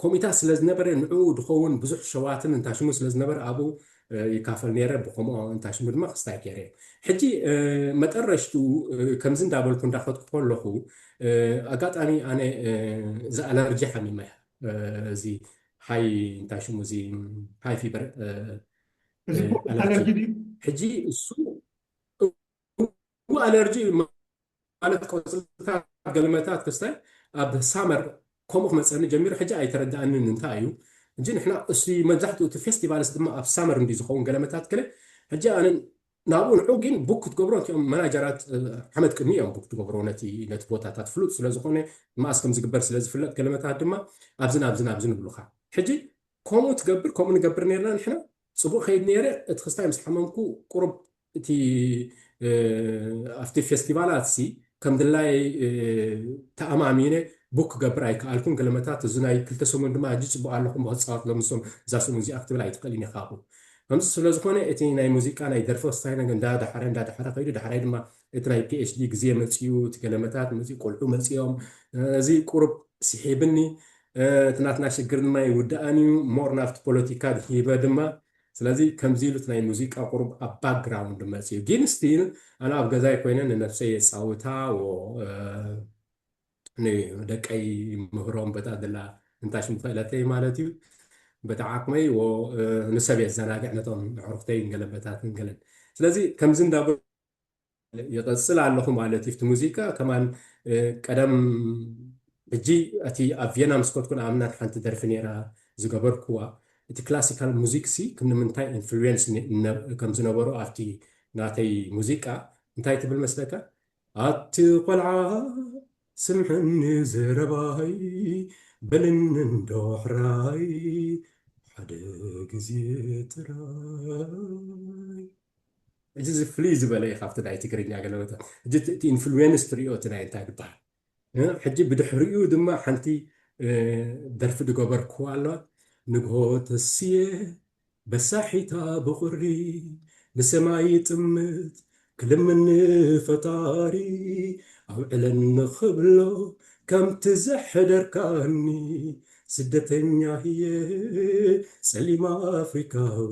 ኮሚታት ስለ ዝነበረ ንዕኡ ድኸውን ብዙሕ ሸዋትን እንታይ ሽሙ ስለ ዝነበረ ኣብኡ ይካፈል ነይረ ብከምኦ እንታይ ስሙ ድማ ክስታይ ገይረ እየ ሕጂ መጠረሽቱ ከምዚ እንዳበልኩ እንዳኸትኩ ከለኹ ኣጋጣሚ ኣነ እዚ ኣለርጂ ሓሚመ እዚ ሃይ እንታይ ሽሙ እዚ ሃይ ፊበር ኣለርጂ ሕጂ እሱ ፉንግ ኣለርጂ ማለት ቆጽልታት ገልመታት ክስታይ ኣብ ሳመር ከምኡ ክመጸኒ ጀሚሩ ሕጂ ኣይተረዳኣንን እንታይ እዩ እንጂ ንሕና እስቲ መብዛሕትኡ እቲ ፌስቲቫልስ ድማ ኣብ ሳመር እንዲ ዝኸውን ገለመታት ክለ ሕጂ ኣነ ናብኡ ንዑ ግን ቡክ ክትገብሮ እቲኦም መናጀራት ሓመድ ቅድሚ እዮም ቡክ ትገብሮ ነቲ ነቲ ቦታታት ፍሉጥ ስለ ዝኾነ መኣስ ከም ዝግበር ስለ ዝፍለጥ ገለመታት ድማ ኣብዚ ናብዚ ናብዚ ንብሉኻ ሕጂ ከምኡ ትገብር ከምኡ ንገብር ነርና ንሕና ጽቡቕ ከይድ ነይረ እቲ ክስታይ ምስ ሓመምኩ ቁሩብ እቲ ኣብቲ ፌስቲቫላትሲ ከም ድላየይ ተኣማሚነ ቡክ ክገብር ኣይከኣልኩን፣ ገለ መታት እዚ ናይ ክልተ ሰሙን ድማ ኣዝዩ ጽቡቕ ኣለኹ እሞ ክጻወት ሎሚ ሰሙን እዛ ሰሙን እዚኣ ክትብል ኣይትኽእልን ኢኻ ኣብኡ። ከምዚ ስለ ዝኾነ እቲ ናይ ሙዚቃ ናይ ደርፊ ወሳኒ ነገር እንዳ ደሓረ እንዳ ደሓረ ከይዱ ዳሕራይ ድማ እቲ ናይ ፒኤችዲ ግዜ መጺኡ እቲ ገለ መታት መጺኡ ቆልዑ መጺኦም እዚ ቁሩብ ስሒብኒ እቲ ናትና ሽግር ድማ ኣይውዳእን እዩ ሞር ናብቲ ፖለቲካ ድሒበ ድማ ስለዚ ከምዚ ኢሉት ናይ ሙዚቃ ቁሩብ ኣብ ባክግራውንድ መጽዩ ጊን ስቲል ኣነ ኣብ ገዛይ ኮይነ ንነብሰይ የጻውታ ዎ ን ደቀይ ይምህሮም በታ ድላ እንታሽ ምክእለተይ ማለት እዩ በታ ዓቅመይ ዎ ንሰብ የዘናግዕ ነቶም ኣዕሩክተይን ገለ በታትን ገለን ስለዚ ከምዚ እንዳ ይቐጽል ኣለኹ ማለት እዩ እቲ ሙዚቃ ከማን ቀደም ሕጂ እቲ ኣብ ቪየና ምስ ከድኩ ንኣብነት ሓንቲ ደርፊ ነይራ ዝገበርኩዋ እቲ ክላሲካል ሙዚክ ሲ ንምንታይ ኢንፍሉዌንስ ከም ዝነበሮ ኣብቲ ናተይ ሙዚቃ እንታይ ትብል መስለካ ኣቲ ቆልዓ ስምዕኒ ዘረባይ በልኒ እንዶ ሕራይ ሓደ ግዜ ጥራይ እዚ እዚ ፍልይ ዝበለ እዩ ካብቲ ናይ ትግርኛ ገለ ቦታ ሕጂ እቲ እቲ ኢንፍሉዌንስ ትሪኦ እቲ ናይ እንታይ ዝበሃል እ፣ ሕጂ ብድሕሪኡ ድማ ሓንቲ እ፣ ደርፊ ዝገበርክዋ ኣለዋ ንግሆ ተስየ በሳሒታ ብቑሪ ንሰማይ ይጥምት ክልምን ንፈጣሪ ኣውዕለኒ ክብሎ ከምቲ ዘሕደርካኒ ስደተኛ እየ ጸሊም ኣፍሪካዊ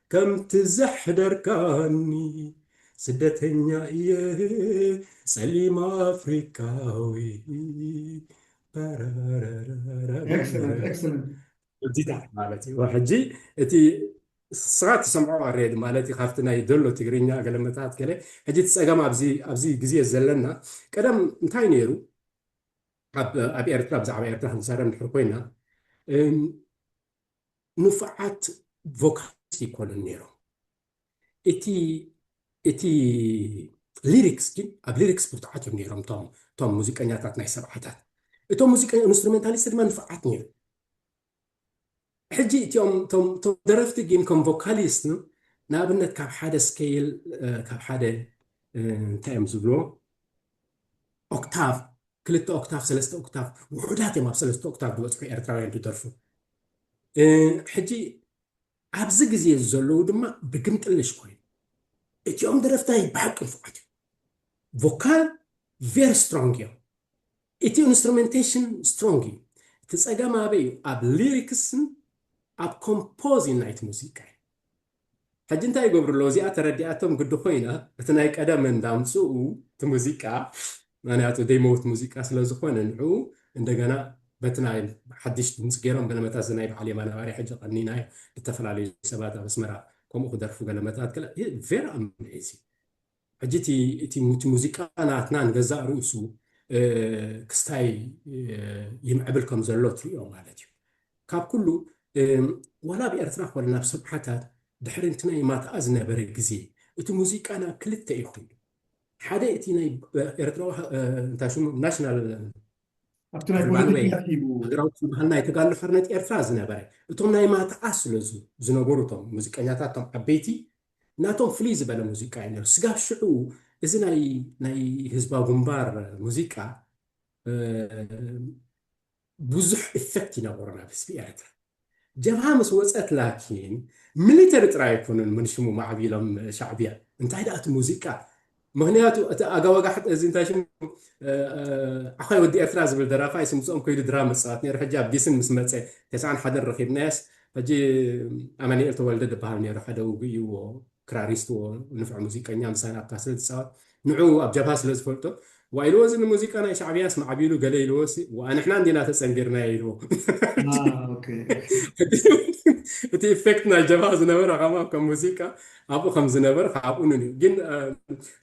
ከምቲ ዘሕደርካኒ ስደተኛ እየ ጸሊም ኣፍሪካዊ Excellent, excellent. ዲታት ማለት እዩ ሕጂ እቲ ስኻ ትሰምዖ ኣሬድ ማለት እዩ ካብቲ ናይ ደሎ ትግርኛ ገለመታት ገለ ሕጂ እቲ ፀገም ኣብዚ ግዜ ዘለና ቀደም እንታይ ነይሩ ኣብ ኤርትራ ብዛዕባ ኤርትራ ክንዛረብ ንድሕር ኮይና ንፉዓት ቮካሊስት ኣይኮኑን ኔሮም እቲ እቲ ሊሪክስ ግን ኣብ ሊሪክስ ብርቱዓት እዮም ኔሮም እቶም እቶም ሙዚቀኛታት ናይ ሰብዓታት እቶም ሙዚቀኛ ኢንስትሩሜንታሊስት ድማ ንፉዓት ኔሩ ሕጂ እቲኦም እቶም ደረፍቲ ግን ከም ቮካሊስት ንኣብነት ካብ ሓደ ስኬይል ካብ ሓደ እንታይ እዮም ዝብልዎ ኦክታቭ ክልተ ኦክታቭ ሰለስተ ኦክታቭ ውሑዳት እዮም ኣብ ሰለስተ ኦክታቭ ዝበፅሑ ኤርትራውያን እንትደርፉ ሕጂ ኣብዚ ግዜ ዘለዉ ድማ ብግምጥልሽ ኮይኑ እቲኦም ደረፍታይ ብሓቂ ንፉዓት እዮም ቮካል ቬሪ ስትሮንግ እዮም እቲ ኢንስትሩሜንቴሽን ስትሮንግ እዩ እቲ ፀገም ኣበይ እዩ ኣብ ሊሪክስን ኣብ ኮምፖዝን ናይቲ ሙዚቃ እዩ ሕጂ እንታይ ይገብሩ ኣለዉ እዚኣ ተረዲኣቶም ግዲ ኮይና እቲ ናይ ቀደም እንዳምጽኡ እቲ ሙዚቃ ምክንያቱ ዘይመውት ሙዚቃ ስለ ዝኮነ ንዕኡ እንደገና በቲ ናይ ሓድሽ ድምጺ ገይሮም ገለመታት እዚ ናይ በዓል የማነ ባርያ ሕጂ ቀኒናዮ ዝተፈላለዩ ሰባት ኣብ ኣስመራ ከምኡ ክደርፉ ገለመታት ገለ very amazing ሕጂ እቲ እቲ እቲ ሙዚቃ ናትና ንገዛእ ርእሱ ክስታይ ይምዕብል ከም ዘሎ ትርእዮ ማለት እዩ ካብ ኩሉ ዋላ ኣብ ኤርትራ ኮነ ናብ ሰብሓታት ድሕሪ እቲ ናይ ማትኣ ዝነበረ ግዜ እቲ ሙዚቃ ናብ ክልተ እዩ ኮይኑ ሓደ እቲ ናይ ኤርትራዊ እንታይ ሽሙ ናሽናል ኣብቲ ናይ ፖለቲካ ሂቡ ሃገራዊ ዝበሃል ናይ ተጋድሎ ሓርነት ኤርትራ ዝነበረ እቶም ናይ ማትኣ ስለ ዝነበሩ እቶም ሙዚቀኛታት እቶም ዓበይቲ ናቶም ፍልይ ዝበለ ሙዚቃ እዩ ነይሩ። ስጋብ ሽዑ እዚ ናይ ናይ ህዝባዊ ግንባር ሙዚቃ ብዙሕ ኢፌክት ይነበሮ ናብ ህዝቢ ኤርትራ። ጀብሃ ምስ ወጸት ላኪን ሚሊተሪ ጥራይ ኣይኮኑን ምንሽሙ ማዕቢሎም ሻዕብያ። እንታይ ደኣ እቲ ሙዚቃ ምክንያቱ እቲ ኣጋወጋሕጥ እዚ እንታይ ሽሙ ዓዃይ ወዲ ኤርትራ ዝብል ደራፋይ ስምጽኦም ከይዱ ድራም ዝጻወት ነይሩ ሕጂ ኣብ ጊስን ምስ መጸ ተስዓን ሓደን ረኺብናዮስ ሕጂ ኣማኒኤል ተወልደ ድበሃል ነይሩ ሓደ ውጉእዩዎ ክራሪስትዎ ንፍዕ ሙዚቀኛ ምሳና ኣብታ ስለ ዝጻወት ንዑ ኣብ ጀብሃ ስለ ዝፈልጦ ዋይ ኢልዎ እዚ ንሙዚቃ ናይ ሻዕብያስ ማዕቢሉ ገለ ኢልዎሲ ዋኣ ንሕና እንዲና ተጸንቢርናዮ ኢልዎ እቲ ኢፌክት ናይ ጀብሃ ዝነበረ ከማ ከም ሙዚቃ ኣብኡ ከም ዝነበረ ከኣ ቅኑን እዩ። ግን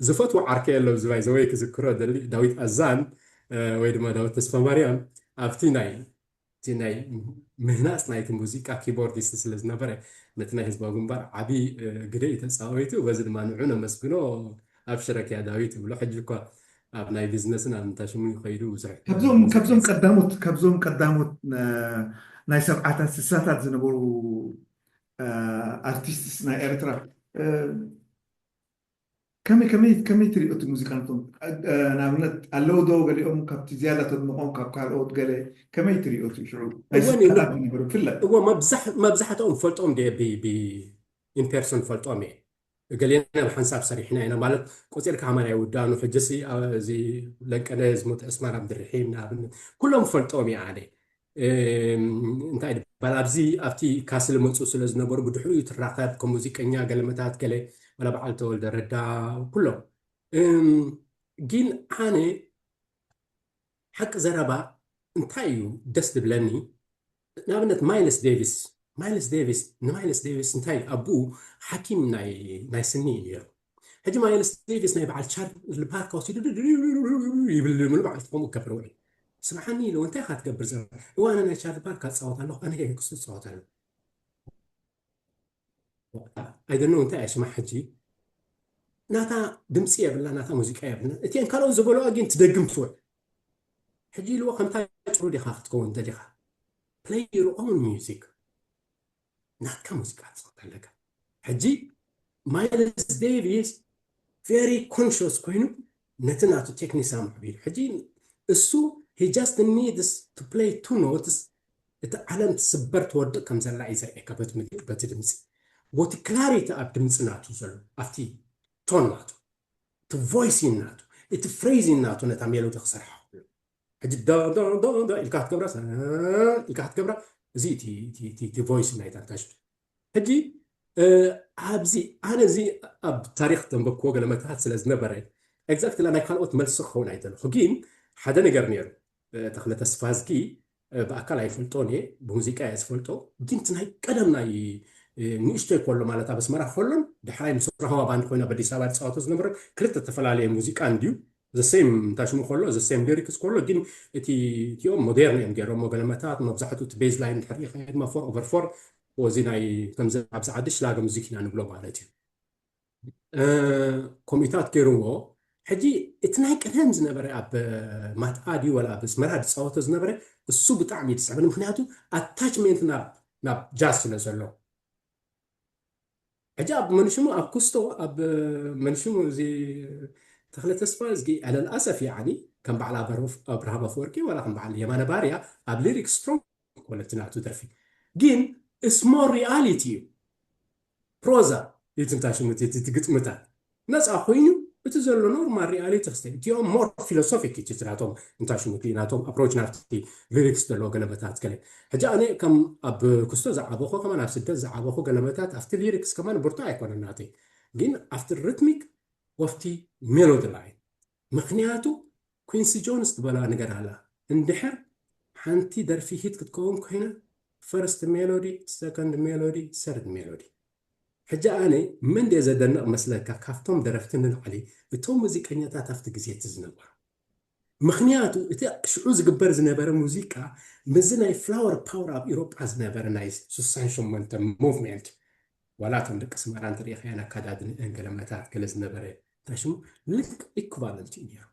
ዝፈትዎ ዓርከይ ኣሎ እዚ ባይ ዘ ወይ ክዝክሮ እደሊ፣ ዳዊት ኣዛን ወይ ድማ ዳዊት ተስፋማርያም ኣብቲ ናይ እቲ ናይ ምህናጽ ናይቲ ሙዚቃ ኪቦርዲስት ስለ ዝነበረ ነቲ ናይ ህዝባዊ ግንባር ዓቢ ግደ እዩ ተጻዊቱ። በዚ ድማ ንዑ ነመስግኖ። ኣብሽረኪያ ዳዊት እብሎ። ሕጂ እኳ ኣብ ናይ ቢዝነስን ኣብ ምንታይ ሽሙ እዩ ከይዱ ብዙሕ ካብዞም ሙዚቃ ካብዞም ቀዳሞት ካብዞም ቀዳሞት ናይ ሰብዓታት ስሳታት ዝነበሩ ኣርቲስትስ ናይ ኤርትራ ከመይ ከመይ ከመይ ትሪኦ እቲ ሙዚቃንቶም ንኣብነት ኣለዉ ዶ ገሊኦም ካብቲ ዝያዳ ተድንቖም ካብ ካልኦት ገለ ከመይ ትሪኦ እቲ ሽዑ ናይ ስልጣናት ዝነበሩ ብፍላይ እዎ መብዛሕትኦም ፈልጦም ደ ብኢንፔርሶን ፈልጦም እየ እገሌና ብሓንሳብ ሰሪሕና ኢና ማለት ቆጺርካ ከማን ኣይውዳእኑ ሕጂሲ እዚ ለንቀነ ዝሞተ ዕስማን ኣብድርሒም ንኣብነት ኩሎም ፈልጦም እየ ኣነ እንታይ ድባል ኣብዚ ኣብቲ ካስል መፁ ስለ ዝነበሩ ብድሕሪኡ ትራኸብ ከም ሙዚቀኛ ገለመታት ገለ ዋላ በዓል ተወልደ ረዳ ኩሎም ግን ኣነ ሓቂ ዘረባ እንታይ ኢዩ ደስ ድብለኒ ንኣብነት ማይልስ ዴቪስ ማይልስ ዴቪስ ንማይልስ ዴቪስ እንታይ ኣቡኡ ሓኪም ናይ ናይ ስኒ ኢዩ ነይሩ ሕጂ ማይልስ ዴቪስ ናይ በዓል ቻርሊ ፓርክ ወሲዱ ይብል ሙሉ መዓልቲ ከምኡ ክገብር ውዕል ስምዓኒ ኢሉ እንታይ ኢኻ ትገብር ዘረባ እዋነ ናይ ቻርሊ ፓርክ ኣጻወት ኣለኹ ኣነ ክሱ ዝጻወት ኣለኹ ኣይደኖ እንታይ እየ ስማ ሕጂ ናታ ድምፂ የብላ ናታ ሙዚቃ የብላ እቲን ካልኦት ዝበለዋ ግን ትደግም ትውዕል ሕጂ ኢልዎ ከምታ ጭሩ ዲኻ ክትከውን ደሊኻ ፕለይ ዩር ኦን ሚዚክ ናትካ ሙዚቃ ትፅወት ኣለካ ሕጂ ማይልስ ዴቪስ ቨሪ ኮንሽስ ኮይኑ ነቲ ናቱ ቴክኒክ ኣማዕቢሉ ሕጂ እሱ ሂ ጃስት ኒድስ ቱ ፕለይ ቱ ኖትስ እቲ ዓለም ትስበር ትወድቅ ከም ዘላ እዩ ዘርእየካ በቲ ምልክት በቲ ድምጺ ቦቲ ክላሪቲ ኣብ ድምጺ ናቱ ዘሎ ኣብቲ ቶን ናቱ እቲ ቮይሲን ናቱ እቲ ፍሬዚን ናቱ ነታ ሜሎዲ ክሰርሓ ክብሎ ሕጂ ዶ ዶ ዶ ዶ ኢልካ ክትገብራ ኢልካ ክትገብራ እዚ እቲ ቮይስ ናይታ ታሽቱ ሕጂ ኣብዚ ኣነ እዚ ኣብ ታሪኽ ዘንበብክዎ ገለ መታሕት ስለ ዝነበረ ኤግዛክትሊ ናይ ካልኦት መልሲ ክኸውን ኣይደለኹ ግን ሓደ ነገር ኔሩ ተኽለ ተስፋዝጊ ብኣካል ኣይፈልጦን እየ ብሙዚቃ እየ ዝፈልጦ ግን እቲ ናይ ቀደም ናይ ንእሽቶይ ከሎ ማለት ኣብ ኣስመራ ከሎን ድሕራይ ምስ ራህዋ ባንድ ኮይና በዲስ ኣበባ ዝፃወቶ ዝነበረ ክልተ ተፈላለየ ሙዚቃ እንድዩ The same እንታይ ሽሙ ከሎ the same lyrics ከሎ ግን እቲ እቲኦም ሞዴርን እዮም ገይሮሞ ገለ መታት መብዛሕትኡ እቲ ቤዝ ላይን ድሕር ሪኢኻ ድማ ፎር ኦቨር ፎር እዚ ናይ ከምዚ ኣብዚ ዓዲ ሽላገ ሙዚክ ኢና ንብሎ ማለት እዩ ኮሚታት ገይርዎ ሕጂ እቲ ናይ ቀደም ዝነበረ ኣብ ማትኣ ድዩ ወላ ኣብ ኣስመራ ዝፃወቶ ዝነበረ እሱ ብጣዕሚ እዩ ዝስዕበኒ ምክንያቱ ኣታችሜንት ናብ ጃዝ ስለ ዘሎ ሕጂ ኣብ መንሽሙ ኣብ ኩስቶ ኣብ መንሽሙ እዚ ተክለ ተስፋዝጊ ዕለል ኣሰፍ ያዓኒ ከም በዓል ኣብርሃም ኣፈወርቂ ዋላ ከም በዓል የማነ ባርያ ኣብ ሊሪክ ስትሮንግ ኮነ እቲ ናቱ ደርፊ ግን እስሞ ሪያሊቲ እዩ ፕሮዛ እዩ ትንታሽሙ እቲ ግጥምታት ነጻ ኮይኑ እቲ ዘሎ ኖርማል ሪኣሊቲ ክስተንትዮ ሞር ፊሎሶፊክ ኢዩ እቲ ናቶም እንታይ ሽሙ እቲ ናቶም ኣፕሮች ናብቲ ሊሪክስ ዘለዎ ገለመታት ገለ ሕጂ ኣነ ከም ኣብ ኩስቶ ዝዓበኹ ከማን ኣብ ስደት ዝዓበኹ ገለመታት ኣብቲ ሊሪክስ ከማን ብርቱዕ ኣይኮነን ናተይ ግን ኣብቲ ርትሚክ ኦፍቲ ሜሎዲ ላይን ምኽንያቱ ኲንሲ ጆንስ ትበላ ነገር ኣላ እንድሕር ሓንቲ ደርፊ ሂት ክትከውን ኮይና ፈርስት ሜሎዲ ሰከንድ ሜሎዲ ሰርድ ሜሎዲ ሕጂ ኣነ መን ድየ ዘደንቕ መስለካ ካብቶም ደረፍቲ ንላዕሊ እቶም ሙዚቀኛታት ኣብቲ ግዜ እቲ ዝነበሩ ምኽንያቱ እቲ ሽዑ ዝግበር ዝነበረ ሙዚቃ ምስዚ ናይ ፍላወር ፓወር ኣብ ኢሮጳ ዝነበረ ናይ ስሳን ሸሞንተ ሞቭሜንት ዋላ እቶም ደቂ ስመራ እንተሪኢኻያን ኣካዳድንኤን ገለ መታት ገለ ዝነበረ እንታይ ስሙ ልክ ኢኩቫለንት እዩ ነይሩ።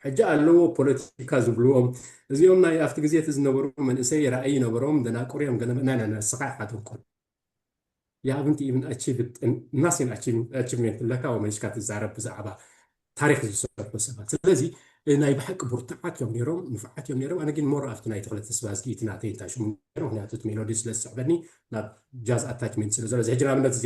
ሕጂ ኣለዎ ፖለቲካ ዝብልዎም እዚኦም ናይ ኣብቲ ግዜ እቲ ዝነበሩ መንእሰይ ራእይ ነበሮም ደናቁር እዮም ገለ ናይ ናይ ንስኻ ኢኻ ደንቁር የኣብንቲ ኢብን ኣቺቭት ናሲን ኣቺቭሜንት ኣለካ ወመሊስካ ትዛረብ ብዛዕባ ታሪክ ዝሰርሑ ሰባት ስለዚ ናይ ብሓቂ ብርቱዓት እዮም ነይሮም ንፉዓት እዮም ነይሮም ኣነ ግን ሞር ኣብቲ ናይ ተክለ ተስባዝጊ እቲ ናተይ እንታይ ሽሙ ነይሩ ምክንያቱ እቲ ሜሎዲ ስለ ዝስዕበኒ ናብ ጃዝ ኣታችሜንት ስለ ዘሎ እዚ ሕጂ ንኣብነት እዚ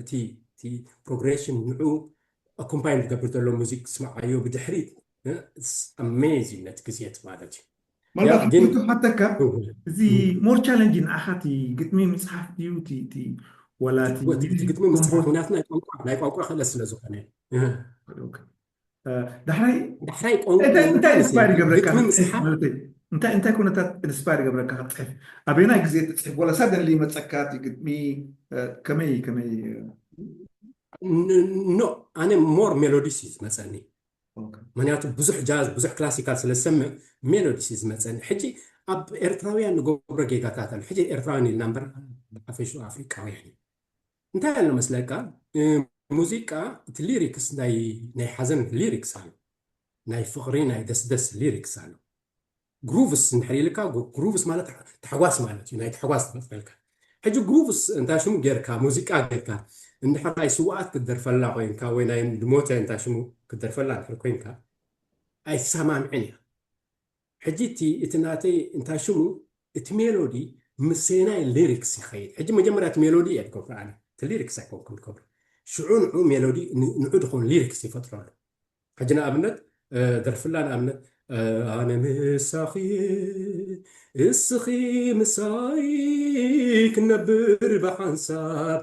እቲ እቲ ፕሮግሬሽን ንዑ ኣኮምፓይን ዝገብር ዘሎ ሙዚክ ስምዓዮ ብድሕሪት ኣሜዚንግ ነቲ ግዜት ማለት እዩ ምናልባት ግን ሓተካ እዚ ሞር ቻለንጅ ንዓኻ እቲ ግጥሚ ምፅሓፍ ድዩ እቲ ዋላ ግጥሚ ምፅሓፍ ምክንያቱ ናይ ቋንቋ ክእለት ስለ ዝኾነ ዳሕራይ ዳሕራይ ቋንቋእንታይ ኢንስፓየር ይገብረካ እንታይ እንታይ ኩነታት ኢንስፓየር ይገብረካ ክትፅሕፍ ኣበናይ ግዜ ትፅሕፍ ወላ ሳደንሊ ይመፀካ እቲ ግጥሚ ከመይ ከመይ ኖ ኣነ ሞር ሜሎዲስ እዩ ዝመፀኒ ምክንያቱ ብዙሕ ጃዝ ብዙሕ ክላሲካል ስለ ዝሰምዕ ሜሎዲስ እዩ ዝመፀኒ ሕጂ ኣብ ኤርትራውያን ንገብሮ ጌጋታት ኣሎ ሕጂ ኤርትራውያን ኢልና እምበር ኣፈሹ ኣፍሪቃውያን እዩ እንታይ ኣሎ መስለካ ሙዚቃ እቲ ሊሪክስ ናይ ናይ ሓዘን ሊሪክስ ኣሎ ናይ ፍቕሪ ናይ ደስደስ ሊሪክስ ኣሎ ግሩቭስ እንድሕር ኢልካ ግሩቭስ ማለት ታሕጓስ ማለት እዩ ናይ ታሕጓስ ትመፅፈልካ ሕጂ ግሩቭስ እንታይ ሽሙ ጌርካ ሙዚቃ ጌርካ እንድሕር ናይ ስዋኣት ክትደርፈላ ኮንካ ወይ ናይ ድሞተ እንታይ ሽሙ ክትደርፈላ እንድሕር ኮንካ ኣይትሰማምዕን እያ ሕጂ እቲ እቲ ናተይ እንታይ ሽሙ እቲ ሜሎዲ ምሰናይ ሊሪክስ ይኸይድ ሕጂ መጀመርያ እቲ ሜሎዲ እየ ድገብሮ ኣነ እቲ ሊሪክስ ኣይኮንኩን ድገብሮ ሽዑ ንዑ ሜሎዲ ንዑ ድኾን ሊሪክስ ይፈጥረሉ ሕጂ ንኣብነት ደርፍላ ንኣብነት ኣነ ምሳኺየ እስኺ ምሳይ ክነብር ብሓንሳብ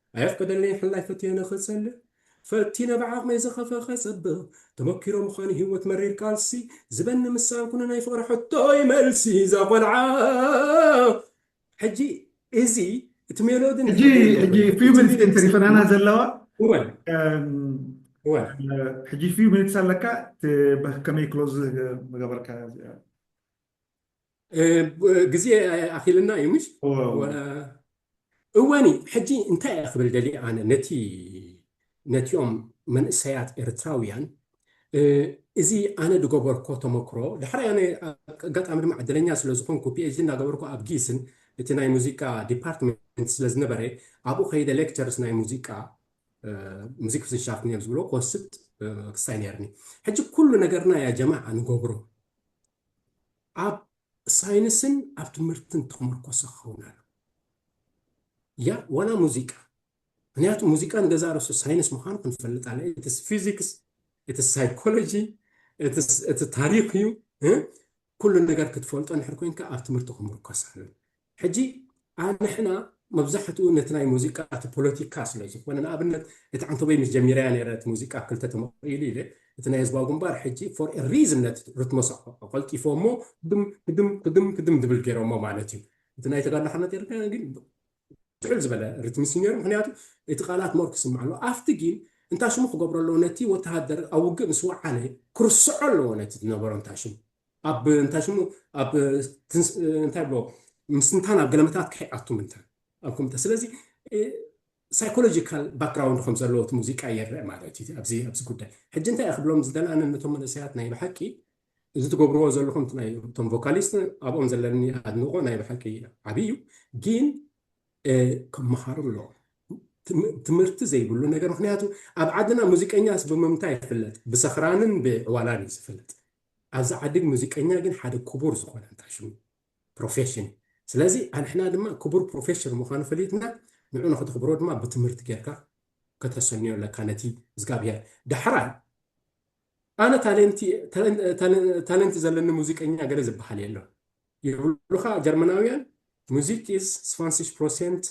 ኣየፍቅደለይን ሓላይ ፈትየ ንክጸሊ ፈቲነ ብዓቅመይ ዝከፈከ ጸብቅ ተመኪሮ ምካኑ ሂወት መሪር ቃልሲ ዝበኒ ምሳን ኩነ ናይ ፍቅሪ ሕቶይ መልሲ እዛ ቆልዓ ሕጂ እዚ እቲ ሜሎዲ ሕጂ ሕጂ ፊው ሚኒትስ እየን ተሪፈናና ዘለዋ ሕጂ ፊው ሚኒትስ ኣለካ ከመይ ክሎዝ ምገበርካ ግዜ ኣኺልና እዩ ምሽ እወኒ ሕጂ እንታይ እየ ክብል ደሊ ኣነ ነቲ ነቲኦም መንእሰያት ኤርትራውያን እዚ ኣነ ዝገበርኮ ተመክሮ ዳሕራይ ኣነ ኣጋጣሚ ድማ ዕድለኛ ስለ ዝኾንኩ ፒኤችዲ እናገበርኩ ኣብ ጊስን እቲ ናይ ሙዚቃ ዲፓርትመንት ስለ ዝነበረ ኣብኡ ከይደ ሌክቸርስ ናይ ሙዚቃ ሙዚክ ፍስንሻፍት እዮም ዝብሎ ክወስድ ክሳይ ነርኒ ሕጂ ኩሉ ነገርና ያ ጀማዓ ንገብሮ ኣብ ሳይንስን ኣብ ትምህርትን ተመርኮሰ ክኸውን ኣለዎ ያ ዋላ ሙዚቃ ምክንያቱ ሙዚቃ ንገዛ ርእሱ ሳይንስ ምዃኑ ክንፈልጥ ኣለ እቲ ፊዚክስ እቲ ሳይኮሎጂ እቲ ታሪክ እዩ ኩሉ ነገር ክትፈልጦ ንድሕር ኮንካ ኣብ ትምህርቲ ክምርኮስ ኣለዎ ሕጂ ኣንሕና መብዛሕትኡ ነቲ ናይ ሙዚቃ እቲ ፖለቲካ ስለ ዝኾነ ንኣብነት እቲ ዓንተቦይ ምስ ጀሚረያ ኔረ እቲ ሙዚቃ ክልተ ተመቂሉ ኢለ እቲ ናይ ህዝባዊ ግንባር ሕጂ for a reason ነቲ ርትሞስ ኣቀልጢፎሞ ክድም ክድም ክድም ክድም ድብል ጌሮሞ ማለት እዩ እቲ ናይ ተጋድሎ ሓርነት ኤርትራ ግን ትሕል ዝበለ ርትሚ እዩ ኔሩ ምክንያቱ እቲ ቃላት ሞር ክስማዕ ኣለዎ ኣብቲ ግን እንታይ ሽሙ ክገብሮ ኣለዎ ነቲ ወተሃደር ኣብ ውግእ ምስ ወዓለ ክርስዖ ኣለዎ ነቲ ዝነበሮ እንታይ ሽሙ ኣብ እንታይ ሽሙ ኣብ እንታይ ብሎ ምስትንታን ኣብ ገለመታት ክሕኣቱ ምንታን ኣብ ኮምተ ስለዚ ሳይኮሎጂካል ባክግራውንድ ከም ዘለዎ እቲ ሙዚቃ ይረአ ማለት እዩ ኣብዚ ኣብዚ ጉዳይ ሕጂ እንታይ እየ ክብሎም ዝደላነ ነቶም መንእሰያት ናይ ብሓቂ እዚ ትገብርዎ ዘለኹም ናይ እቶም ቮካሊስት ኣብኦም ዘለኒ ኣድንቆ ናይ ብሓቂ ዓብዪ እዩ ግን ክመሃሩ ኣለዎ ትምህርቲ ዘይብሉ ነገር ምክንያቱ ኣብ ዓድና ሙዚቀኛስ ብምምታይ ይፍለጥ ብሰኽራንን ብዕዋላን እዩ ዝፍለጥ ኣዚ ዓድግ ሙዚቀኛ ግን ሓደ ኩቡር ዝኮነ ኣንታይ ሽሙ ፕሮፌሽን እዩ ስለዚ ኣንሕና ድማ ኩቡር ፕሮፌሽር ምካኑ ፈሊጥና ንዑ ንክተክብሮ ድማ ብትምህርቲ ገርካ ከተሰንዮ ኣለካ ነቲ እዝጋብሄር ዳሕራይ ኣነ ታለንቲ ታለንቲ ዘለኒ ሙዚቀኛ ገለ ዝበሃል የሎን ይብሉካ ጀርመናውያን ሙዚክ ኢዝ ስፋንሲሽ ፕሮሴንት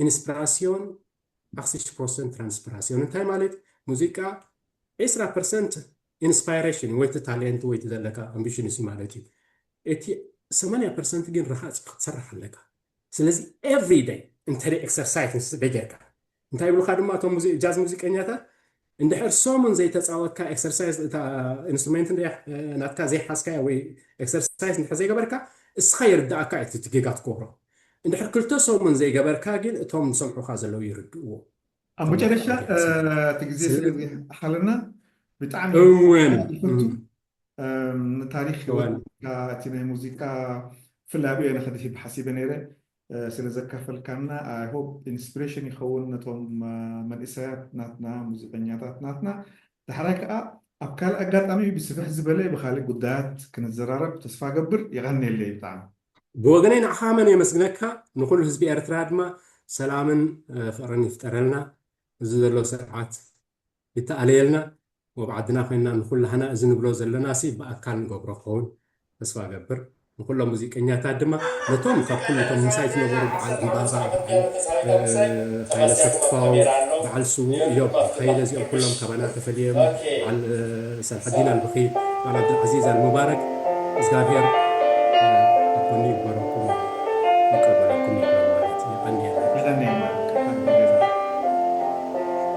ኢንስፕራስዮን፣ ኣክሲሽት ፕሮሰንት ትራንስፕራስዮን እንታይ ማለት ሙዚቃ ዒስራ ፐርሰንት ኢንስፓይረሽን ወይ እቲ ታሌንት ወይ እቲ ዘለካ ኣምቢሽንስ እዩ ማለት እዩ እቲ ሰማንያ ፐርሰንት ግን ረሃፅ እዩ ክትሰርሕ ኣለካ ስለዚ ኤቭሪ ደይ እንተ ኤክሰርሳይዝ ስደ ጌርካ እንታይ ይብሉካ ድማ እቶም ጃዝ ሙዚቀኛታት እንድሕር ሰሙን ዘይተጻወትካ ኤክሰርሳይዝ እታ ኢንስትሩሜንት እንድያ ናትካ ዘይሓዝካያ ወይ ኤክሰርሳይዝ እንድሕር ዘይገበርካ እስኻ ይርድኣካ እዩ እቲ ጌጋ ትገብሮ እንድሕር ክልተ ሰሙን ዘይገበርካ ግን እቶም ዝሰምዑኻ ዘለዉ ይርድእዎም ኣብ መጨረሻ እቲ ግዜ ስለዝሓለና ብጣዕሚ እወን ንታሪክ ህይወትካ እቲ ናይ ሙዚቃ ፍላይ ኣብኦ ነክድሂብ ሓሲበ ነይረ ስለ ዘካፈልካና ኣይ ሆፕ ኢንስፕሬሽን ይኸውን ነቶም መንእሰያት ናትና ሙዚቀኛታት ናትና ዳሕራይ ከኣ ኣብ ካልእ ኣጋጣሚ ብስፍሕ ዝበለ ብካልእ ጉዳያት ክንዘራረብ ተስፋ ገብር የቀንየለይ ብጣዕሚ። ብወገነይ ንዓኻ መን የመስግነካ ንኹሉ ህዝቢ ኤርትራ ድማ ሰላምን ፍቕርን ይፍጠረልና እዚ ዘሎ ስርዓት ይተኣለየልና ወብ ዓድና ኮይና ንኩላህና እዚ ንብሎ ዘለናሲ ብኣካል ንገብሮ ክከውን ተስፋ እገብር ንኩሎም ሙዚቀኛታት ድማ ነቶም ካብ ኩሉ እቶም ምሳይ ዝነበሩ በዓል ዕንባባ በዓል ሃይለ ተስፋው በዓል ስዉእ እዮብ ሃይለ እዚኦም ኩሎም ካባና ተፈልየም በዓል ሰልሐዲን ኣልብኺ በዓል ኣብድልዓዚዝ ኣልሙባረክ እዝጋብሄር ኣብ ጎኒ ይግበረኩም ይቀበለኩም ይበል ማለት እዩ የቀንየልና። የቀንየልና ካሕሳይ ገዛ።